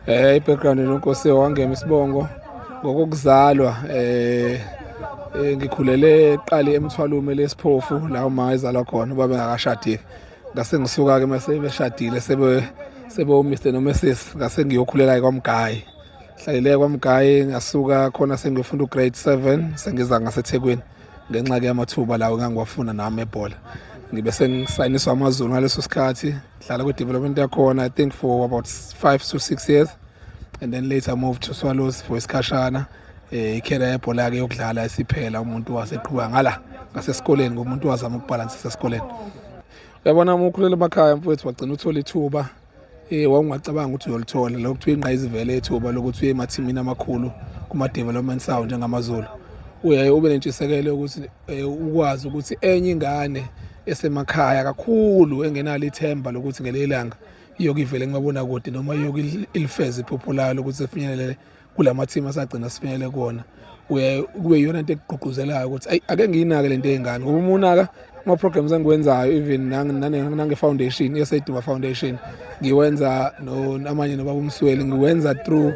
Eh i-background nonkosi wangema isibongo ngokokuzalwa eh, eh ngikhulele eqali emthwalume lesiphofu la uma ezalwa khona ubaba engakashadile ngase ngisuka ke mase beshadile sebe sebe uMr no Mrs ngase ngiyokhulela kwamgayi hlalele kwamgayi ngasuka khona sengiyofunda ugrade 7 sengiza ngaseThekwini ngenxa ke yamathuba lawo ngangiwafuna nami ebhola ngibe sengisayiniswa amazulu ngaleso sikhathi Hlala kwi development yakhona I think for about 5 to 6 years and then later move to Swallows for isikhashana eh ikhela yebhola ke yokudlala isiphela umuntu waseqhuba ngala ngasesikoleni ngomuntu wazama ukubalansisa esikoleni uyabona uma ukhulele emakhaya mfowethu wagcina uthola ithuba eh wawungacabanga ukuthi uyolithola lokho kuthiwa ingqayizivele ethuba lokuthi uye emathimini amakhulu kuma development sound njengamazulu uyaye ube nentshisekelo ukuthi eh, ukwazi ukuthi enye ingane esemakhaya kakhulu engenalo ithemba lokuthi ngelinye ilanga iyokivele kumabona kude noma iyokilifeza iphupho layo lokuthi sifinyelele kula mathimu asagcina sifinyelele kuwona kube yiyona nto ekugqugquzelayo ukuthi ayi ake ngiyinake le nto ey'ngane ngoba uma unaka ama-programs engiwenzayo even nange-foundation yeseduma foundation ngiwenza amanye nobaba umsweli ngiwenza through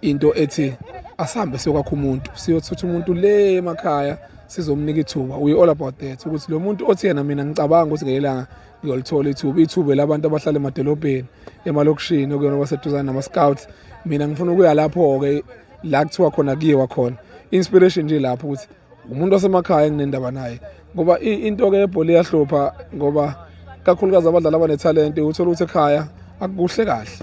into ethi asihambe siyokwakha umuntu siyothutha umuntu le emakhaya sizomnika ithuba we all about that ukuthi lo muntu othi yena mina ngicabanga ukuthi ngelanga ngiyolithola ithuba ithuba labantu abahlala emadolobheni emalokishini okuyona baseduzane nama-scouts mina ngifuna ukuya lapho-ke la kuthiwa khona kuyiwa khona inspiration nje lapho ukuthi ngumuntu wasemakhaya enginendaba naye ngoba into ke yebhola iyahlupha ngoba kakhulukazi abadlali abanethalente uthola ukuthi ekhaya akukuhle kahle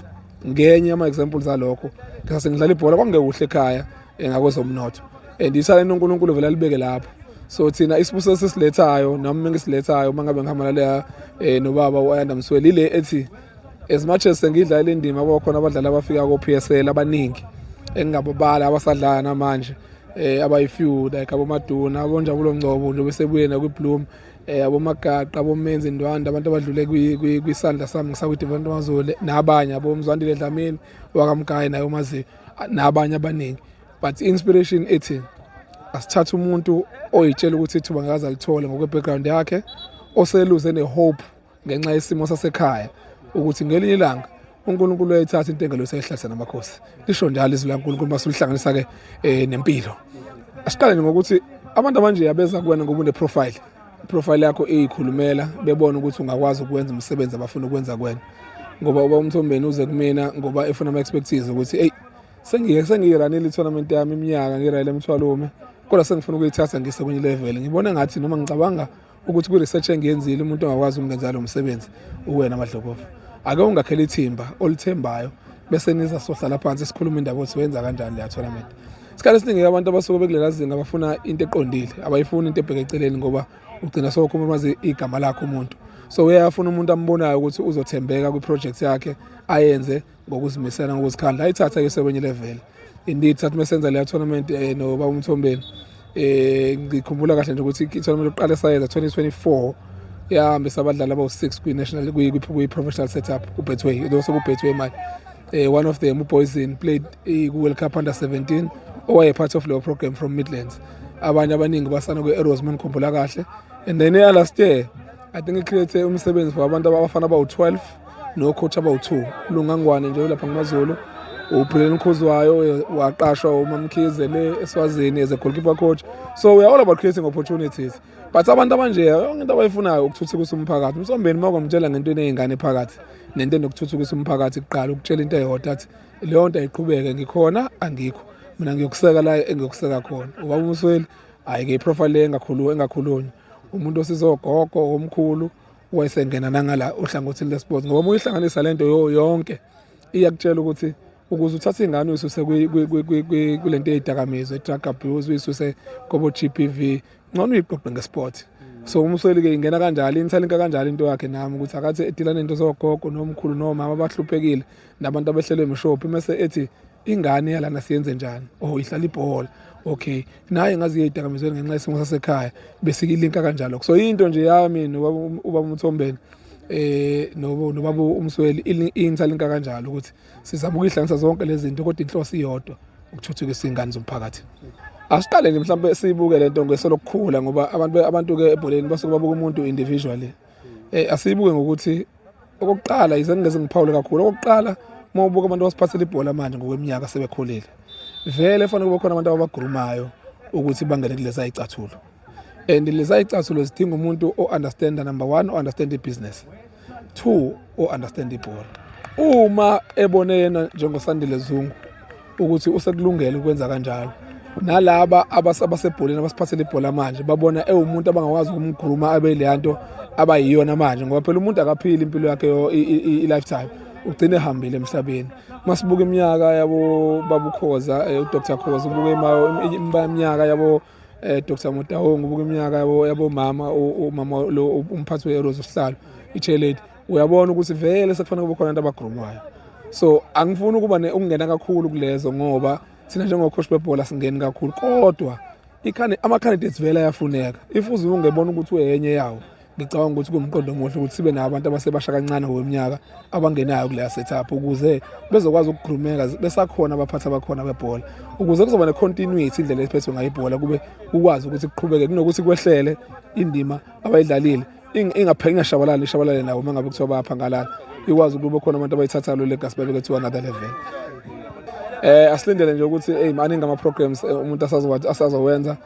ngenye yama-examples alokho ngase ngidlala ibhola kwakungekuhle ekhaya eh, ngakwezomnotho and ithalente unkulunkulu vele alibeke lapho so thina isibuso sesilethayo nami mengisilethayo uma ngabe ngihambana leya um eh, nobaba u-ayanda msweli ile ethi as much as sengidlala indima yabo khona abadlali abafika ko-PSL abaningi engingababala abasadlala namanje eh abayifew like abomaduna abonjabulo ngcobo nje besebuye nakwi-bloom eh abomagaqa abomenzi ndwanda abantu abadlule kwisandla sami ngisakwi-devant mazule nabanye abomzwandile dlamini wakamgayi naye umaziyo nabanye abaningi but i-inspiration ethi asithathe umuntu oyitshela ukuthi ithuba ngakaze alithole ngokwe-background yakhe oseluze ne-hope ngenxa yesimo sasekhaya ukuthi ngelinye ilanga uNkulunkulu uyayithatha intengelo useyihlahla namakhosi lisho njalo izwi laNkulunkulu uma sulihlanganisa ke eh, nempilo asiqale ngokuthi abantu abanje abeza kuwena ngoba une profile profile yakho iyikhulumela bebona ukuthi ungakwazi ukwenza umsebenzi abafuna ukwenza kuwena ngoba uba umthombeni uze kumina ngoba efuna ama expertise ukuthi hey sengiye sengiyiranile tournament yami iminyaka ngirayile mthwalume kodwa sengifuna ukuyithatha ngise kwenye level ngibona ngathi noma ngicabanga ukuthi kwi-research engiyenzile umuntu ongakwazi ukungenza lo msebenzi uwena madlokovu ake ungakhela ithimba olithembayo bese niza sohlala phansi sikhuluma indaba ukuthi wenza kanjani leya tournament isikhathi esiningi abantu abasuke bekulela zinga bafuna into eqondile abayifuni into ebheke eceleni ngoba ugcina sowukhumamazi igama lakhe umuntu so uyafuna umuntu ambonayo ukuthi uzothembeka kwi-project yakhe ayenze ngokuzimisela ngokuzikhandla ayithatha ke sekwenye level indeed sathi mesenza leya tournament eh, no baba umthombeni eh ngikhumbula kahle nje ukuthi i-tournament yokuqala esayenza 2024 yahambisa abadlali abawu-6 kwi-national kwi-professional setup ubetway lo sekubetway manje eh one of them upoison played eh, ku-world cup under 17 owaye part of leyo program from midlands abanye abaningi basana kwi-arrows uma ngikhumbula kahle and then eya last year i think i-create umsebenzi for abantu abafana abawu-12 nocoach abawu-two ulungangwane nje ulapha ngumazulu ubhuleni ukhuzwayo waqashwa umamkhize le eswazini as a goalkeeper coach so we are all about creating opportunities but abantu abanje yonke into abayifunayo ukuthuthukisa umphakathi umsombeni uma kwamtshela ngento eney'ngane phakathi nento enokuthuthukisa umphakathi kuqala ukutshela into eyodwa athi leyo nto ayiqhubeke ngikhona angikho mina ngiyokuseka la engiyokuseka khona ubaba umusweli hhayi-ke iprofile engakhulunywa umuntu osizogogo omkhulu wayesengena nangala ohlangothini lesports ngoba uyihlanganisa lento yo yonke iyakutshela ukuthi ukuze uthathe ingane uyisuse kule nto eyidakamizwa i-drug abuse uyisuse kobo-g p v ngcono uyiqoqe ngesport so umsweli-ke ingena kanjalo inithalinka kanjalo into yakhe nami ukuthi akathi edila nento zogogo nomkhulu nomama abahluphekile nabantu abehlelwe imishophi mese ethi ingane yalana siyenze njani oh ihlala ibhola okay naye ngazi yeyidakamizweni ngenxa yesimo sasekhaya bese ilinka kanjalo so into nje yami nobaba ubaba umthombeni eh nobo nobaba umsweli ingisalinka kanjalo ukuthi sizama ukuyihlanganisa zonke lezi zinto kodwa inhloso iyodwa ukuthuthukisa ingane zomphakathi asiqaleni mhlawumbe siyibuke lento ngeso lokukhula ngoba abantu abantu ke ebholeni basuke babuka umuntu individually eh asiyibuke ngokuthi okokuqala yize ngingeze ngiphawule kakhulu okokuqala uma ubuka abantu abasiphathela ibhola manje ngokweminyaka sebekhulile vele fanele kube khona abantu ababagurumayo ukuthi bangene kulezi ayicathulo and lezi ayicathulo zidinga umuntu o-understanda number one o-understand ibusiness two o-understand ibhola uma ebone yena njengosandile zungu ukuthi usekulungele ukwenza kanjalo nalaba abasebholeni abasiphathele ibhola manje babona ewumuntu abangakwazi ukumgruma abe leya nto abayiyona manje ngoba phela umuntu akaphili impilo yakhe i-lifetime ugcine ehambile emhlabeni masibuka iminyaka yabo babukhoza eh, udr khoza ubuke iminyaka yabo um eh, dr motahong ubuke iminyaka yabo yabomama umama lo umphathi we-eros usihlalo i-chairlady uyabona ukuthi vele sekufanele kube khona abantu abagrumwayo so angifuni ukuba ukungena kakhulu kulezo ngoba thina njengokhoshi bebhola singeni kakhulu kodwa ama-candidates vele ayafuneka if uze ungebona ukuthi uyenye yawo ngicabanga ukuthi kuwumqondo omuhle ukuthi sibe nabantu abasebasha kancane ngokweminyaka abangenayo kuleya setup ukuze bezokwazi ukugrumeka besakhona abaphathi abakhona bebhola ukuze kuzoba ne-continuity indlela esiphethwe ngayo ibhola kube kukwazi ukuthi kuqhubeke kunokuthi kwehlele indima abayidlalile ingapheli ingashabalali ishabalale nawo uma ngabe kuthiwa bapha ngalala ikwazi ukuba khona abantu abayithatha lo legacy babe kuthiwa another level eh asilindele nje ukuthi hey maningi ama programs eh, umuntu asazowathi asazowenza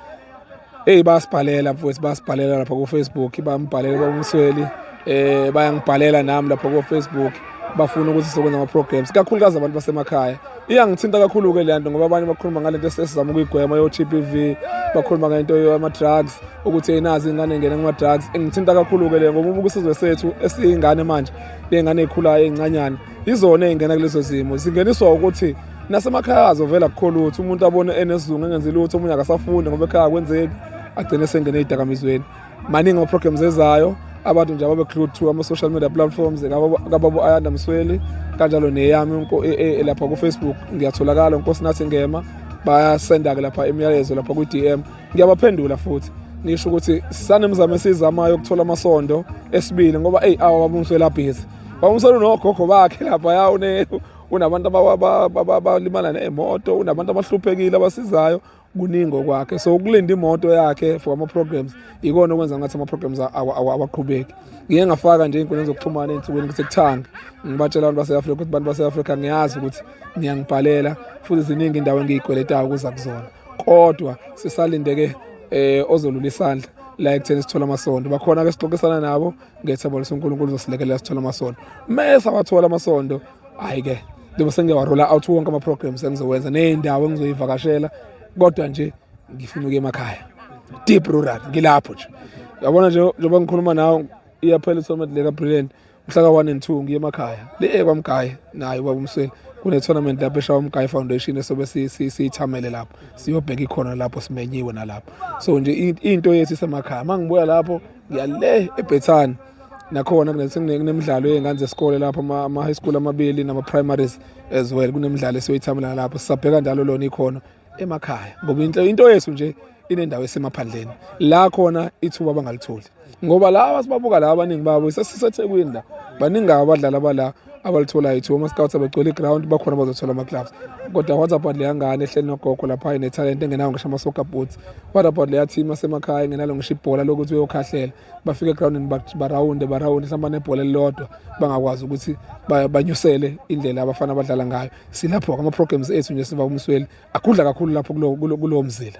hey basibhalela mfowethu basibhalela lapha ku Facebook bambhalele babumsweli eh bayangibhalela nami lapha ku Facebook bafuna ukuthi sokwenza ama programs kakhulukazi abantu basemakhaya iyangithinta kakhulu-ke le nto ngoba abanye bakhuluma ngale nto esizama ukuyigwema yo-t p v bakhuluma ngento yama-drugs ukuthi eyinazi ingane engene kuma-drugs ingithinta kakhulu-ke le ngoba ubuke isizwe sethu esiyingane manje ley'ngane ey'khulayo ey'ncanyana yizona ey'ngena kulezo zimo zingeniswa ukuthi nasemakhaya azo vele akukho lutho umuntu abone enesizungu engenzi lutho omunye akasafundi ngoba ekhaya kwenzeki agcine esengene ey'dakamizweni maningi ama-programs ezayo abantu nje ababe-clue to ama-social media platforms kababo ayanda msweli kanjalo neyami e, e, lapha kufacebook ngiyatholakala nkosi nathi ngema bayasenda-ke lapha imiyalezo lapha kwi-d m ngiyabaphendula futhi ngisho ukuthi sanemizamo esiyizamayo ukuthola amasondo esibili ngoba eyi awa babumsweli abhizi babumsweli unogogo bakhe lapha ya unabantu abalimala nemoto unabantu abahluphekile abasizayo kuningi okwakhe so ukulinda imoto yakhe for ama-programs ikona okwenza ngathi ama-programs awaqhubeki ngiye ngafaka nje iy'nkundleni zokuxhumana ey'nsukwini ukuthi kuthanga ngibatshela abantu base-afrika ukuthi abantu base-afrika ngiyazi ukuthi ngiyangibhalela futhi ziningi indawo engiyikweletayo ukuza kuzona kodwa sisalindeke um ozolula isandla la ekutheni sithole amasondo bakhona ke sixoxisana nabo ngethemba lokuthi unkulunkulu uzosilekelela sithole amasondo uma esawathole amasondo hhayi-ke njengoba sengike warola out wonke ama-programs engizowenza ney'ndawo engizoyivakashela kodwa nje ngifuna ukuya emakhaya deep rural ngilapho nje yabona nje njengoba ngikhuluma nawe iyaphela isomet le kabrilliant mhla ka-one and two ngiye emakhaya le kwamgaye naye ubaba umsweli kune-tournament lapho eshawa umgaye foundation esobe siyithamele lapho siyobheka ikhona lapho simenyiwe nalapho so nje into yethu isemakhaya uma ngibuya lapho yale ebhethani nakhona kunemidlalo yey'ngane zesikole lapho ama-high school amabili nama-primaries as well kunemidlalo esiyoyithamela lapho sisabheka njalo lona ikhono emakhaya ngoba into yethu nje inendawo esemaphandleni la khona ithuba abangalitholi ngoba laba sibabuka la abaningi babo isasethekwini la baningi abadlali abala abalitholayo ithiwa ama-scouts abegcwele iground bakhona bazothola ama-gloves kodwa what about leya ngane ehleli nogogo lapha inethalente engenawo ngisho ama-soccer boots what about leya team asemakhaya engenalo ngisho ibhola lokuthi uyokhahlela bafike egroundini barawunde barawunde mhlawumbe nebhola elilodwa bangakwazi ukuthi banyusele indlela abafana abadlala ngayo silapho-ke ama-programs ethu nje siva kumsweli agudla kakhulu lapho kulowo mzila